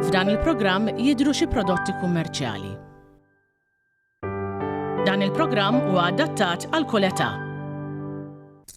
F'dan il-programm jidhru xi prodotti kummerċjali. Dan il-programm huwa adattat għal kull età.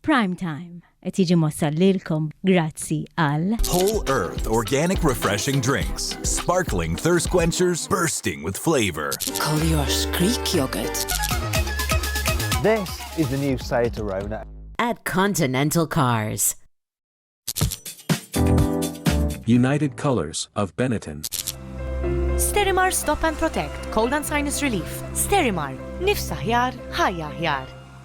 Prime Time. Qed jiġi mwassal lilkom grazzi għal. Whole Earth Organic Refreshing Drinks. Sparkling thirst quenchers bursting with flavor. Collier's Greek yogurt. This is the new Seat Arona. At Continental Cars. United Colors of Benetton. Sterimar Stop and Protect, Cold and Sinus Relief. Sterimar, nifsa ħjar, ħajja ħjar.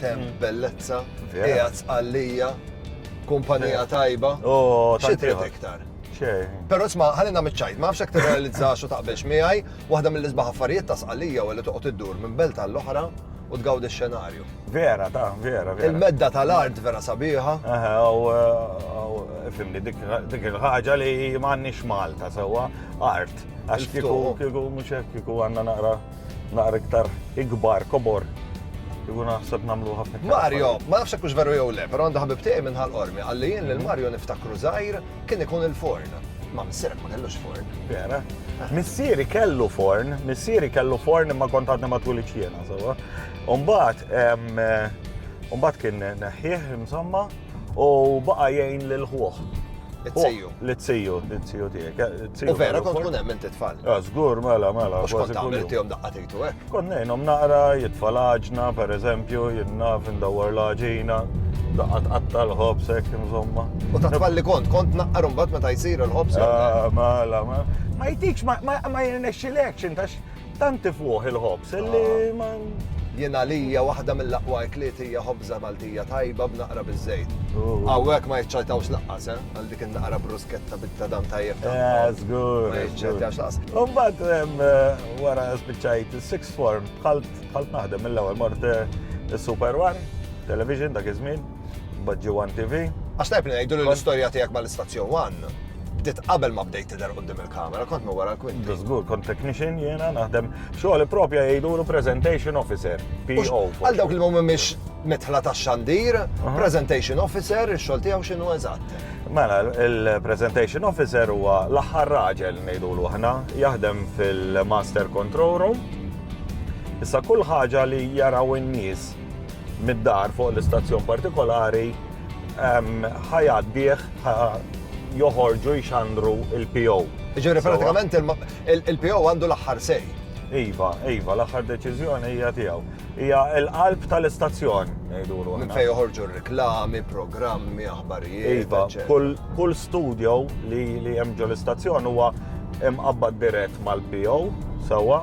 Tem bellezza, qiegħed għalija, kumpanija tajba. Oh, xi trid iktar? Però sma, ħalli nagħmel ċajt, ma nafx tirrealizza xo taqbilx miegħi, waħda mill-isbaħ affarijiet ta' sqalija u li toqgħod iddur minn belt għall-oħra u tgawdi x-xenarju. Vera, ta' vera, vera. Il-medda tal-art vera sabiħa. Eh, fimni, dik il-ħaġa li m'għandniex Malta sewwa art. Għax kieku kieku mhux hekk kieku għandna naqra naqra iktar ikbar, kobor, Iku naħseb namlu ħafna. Mario, ma nafx kux veru jew le, pero għandu ħabib tiegħi minn ħal-qormi, għalli jien lil mhm. Mario niftakru żgħir kien ikun il-forn. Ma missirek ma kellux forn. Vera. Ah. Missieri kellu forn, missieri kellu forn imma kont għadna ma twilitx jiena, sewa. Umbat, umbat kien neħħieħ, insomma, u baqa' jgħin lil ħuħ. It-tiju. L-tiju, it-tiju tiegħek. Eh, u vera kont kun hemm inti tfal. Ah, żgur, mela, mela. Mhux kont tagħmel intihom daqqa tejtu hekk. Eh? Kont ngħinhom naqra, jitfal aġna, pereżempju, jinnaf indawwar l-aġina, daqqa tqatta l-ħobs hekk insomma. U ta' tfal li kont, kont naqra mbagħad meta jsir il-ħobs. Ah, mela, mela. Ma jtikx, ma jirnexxilekx intax Tant tifwuh il-ħobż li ma. Jien għalija waħda mill-aqwa ekliet hija ħobża Maltija tajba b'naqra biż-żejt. Hawnhekk ma jiċċajtawx laqqas, eh? Għal dik in-naqra brusketta bit-tadam tajjeb ta' eh, żgur. Ma jiċċajtawx laqqas. Imbagħad eh, wara spiċċajt is-sixth form bħalt naħdem mill-ewwel mort eh, is-Super One, television dak iż-żmien. Baġġi One TV. Għax tajb li ngħidu li l-istorja tiegħek mal-istazzjon One bdiet qabel ma bdejt tidher qudiem il-kamera, kont minn wara l-kwinti. Żgur, kont technician jiena naħdem xogħol propja jgħidulu presentation officer, PO. Għal dawk li ma mhumiex mitħla tax-xandir, presentation officer, ix-xogħol tiegħu x'inhu eżatt? Mela, il-presentation officer huwa l-aħħar raġel ngħidulu aħna, jaħdem fil-master control room. Issa kull ħaġa li jaraw in-nies mid-dar fuq l-istazzjon partikolari ħa jgħaddih joħorġu jxandru il-PO. Ġifieri pratikament il-PO għandu l-aħħar sej. Iva, iva, l-aħħar deċiżjoni hija tiegħu. Hija l-qalb tal-istazzjon, ngħidulu. Minn fejn joħorġu reklami, programmi, aħbarijiet. Iva, kull studio li hemm ġol-istazzjon huwa imqabbad dirett mal-PO, sewwa,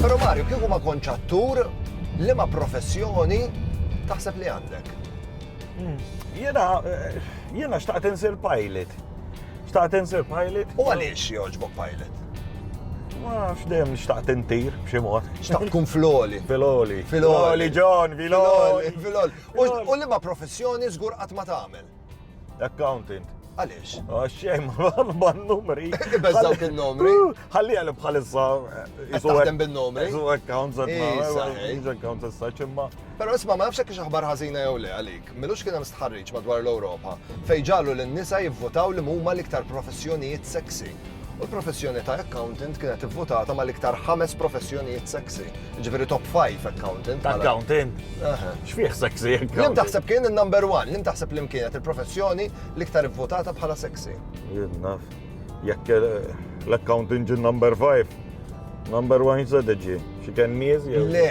Pero Mario, kieku ma konċattur li ma professjoni taħseb li għandek? Hmm. Jena, eh, jena xtaqt insir pilot. Xtaqt insir pilot. U għaliex joġbok pilot? Ma f'dem xtaqt intir, b'ximot. Xtaqt kun floli. Filoli. Filoli, John, filoli. Filoli. U liema professjoni żgur qatt ma tagħmel? Accountant. Għaliex? Għaxxej, ma numri. Bezzaw kien numri. Għalli għalli bħalissa. Għaxxem bin numri. Isu accounts at Isu accounts at such imma. Pero isma ma nafxek kiex aħbar ħazina jew le għalik. Milux kien hemm stħarriġ madwar l-Ewropa fej ġalu l-nisa jivvotaw li huma l-iktar professjonijiet sexy. u l-professjoni ta' accountant kienet ivvutata mal-iktar ħames professjonijiet sexy, ġifieri top 5 accountant. Accountant? X'fih sexy accountant? Lim taħseb kien il-number one, lim taħseb li kienet il-professjoni l-iktar ivvutata bħala sexy. Jien naf, jekk l-accountant ġi number 5, number one jisa diġi, xi kennies? Le,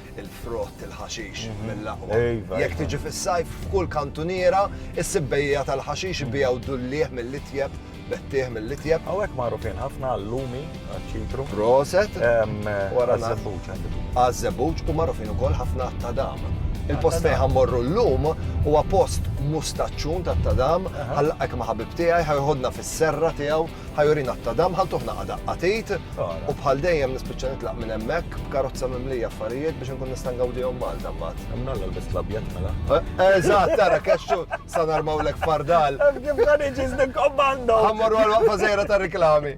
il-frott, il-ħaxix, mhm. mill-aqwa. Iva, Jekk iva. tiġi fis-sajf, f'kull kantuniera, is-sibbejja tal-ħaxix mhm. bijaw dullieħ mill-itjeb, bettieħ mill-itjeb. Għawek marufin ħafna għallumi, ċitru. Proset. Għazzebuċ għandu. Għazzebuċ u marufin u koll ħafna tadam. Il-post fejn ħammorru l-lum huwa post mustaċċun ta' tadam, għallaqek ma' ħabib tiegħi, ħajħodna fis-serra tiegħu ħa jurina t-tadam, ħa ntuh naqa' daqqa tgħid, u bħal dejjem nispiċċa nitlaq minn hemmhekk b'karozza mimlija affarijiet biex inkun nista' ngawdihom Malta mbagħad. Hemm nalla l-best l-abjad mela. Eżatt, tara kexxu sa narmawlek fardal. Hemm kif dan iġi żdik kommando. Ħammorru għal waqfa żejra ta' riklami.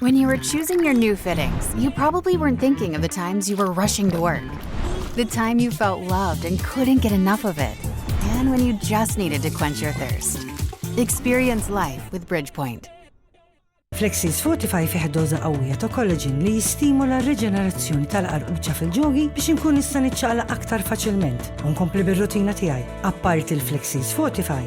When you were choosing your new fittings, you probably weren't thinking of the times you were rushing to work, the time you felt loved and couldn't get enough of it, and when you just needed to quench your thirst. Experience life with Bridgepoint. Flexis Fortify fih doza qawwija ta' collagen li jistimula r-riġenerazzjoni tal-qarqubċa fil-ġogi biex inkun nista' niċċaqla aktar faċilment u nkompli bir-rutina tiegħi. Apparti l-Flexis Fortify,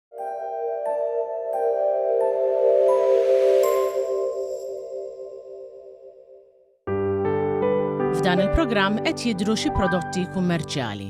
F'dan il-programm qed jidhru xi prodotti kummerċjali.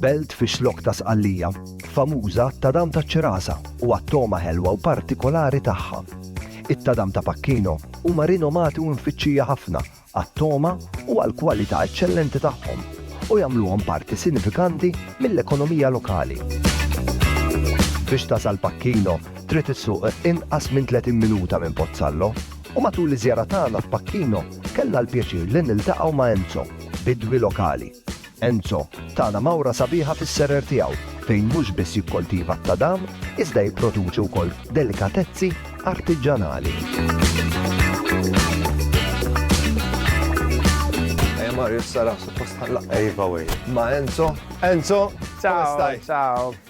Belt fix-Xlokk ta' Sqallija, famuża għat-tadam taċ-Ċirasa u għat-togħma ħelwa u partikolari tagħha. It-tadam ta' Pacchino huma rinomati u mfittxija ħafna għat-togħma u għall-kwalità eċċellenti tagħhom, u jagħmluhom parti sinifikanti mill-ekonomija lokali. Biex tasal Pacchino, trid issuq inqas minn 30 minuta minn Pozzallo, u matul iż-żjara tagħna f'Pacchino kellna l-pjaċir li niltaqgħu ma' Enzo, bidwi lokali. Enzo, tana mawra sabiħa fis-serer tiegħu fejn mhux biss jikkoltiva t-tadam iżda jipproduċi wkoll delikatezzi artiġġanali. Ejja Mario, issa raħ suppost ħallaq. Ejva wej. Ma' Enzo. Enzo, kif stai? Ciao, ciao.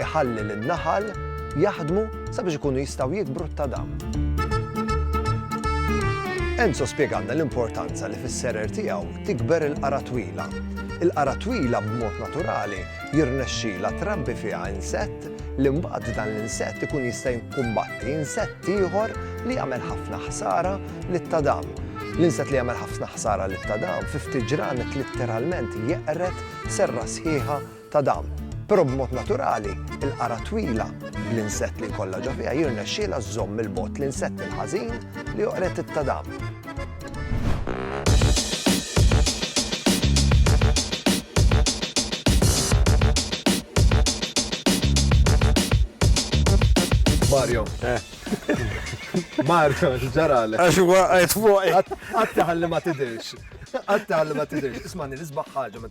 iħalli lin-naħal jaħdmu sabiex ikunu jistgħu jikbru t-tadam. Enzo spjegalna l-importanza li fis-serer tiegħu tikber il-qara twila. Il-qara twila b'mod naturali jirnexxila trabbi fiha insett li mbagħad dan l-insett ikun jista' jinkumbatti insett ieħor li jagħmel ħafna ħsara lit-tadam. L-insett li jagħmel ħafna ħsara lit-tadam fi ftit ġranet litteralment jeqret serra sħiħa ta' dawn. Però b'mod naturali, il-qara twila bl-insett li jkollha ġo fiha jirnexxielha żżomm 'il bogħod l-insett il-ħażin li joqred it-tadam. Mario. Eh. Mario, ġarale. Għax huwa għajt fuq. Għattaħalli ma tidirx. Għattaħalli ma tidirx. Ismani, nisbaħ ħaġa ma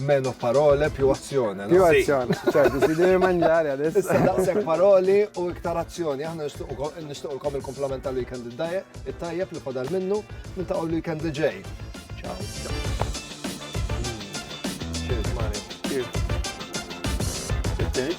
Meno parole, più azione. Più azione, ċertu, si devi mangiare adesso. Issa daqsek paroli u iktar azzjoni. Aħna nishtuqilkom il-komplement tal weekend id-dajja, it-tajjeb li fadal minnu, minn ta' weekend li ġej. Ciao. Cheers, Mario. Cheers. Cheers,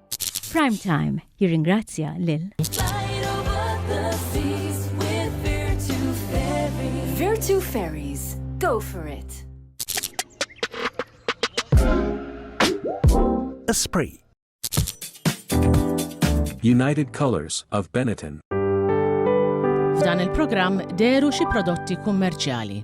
Prime Time jirringrazzja lil Virtu Ferries, go for it! Esprit United Colors of Benetton. F'dan il-programm deru xi prodotti kummerċjali.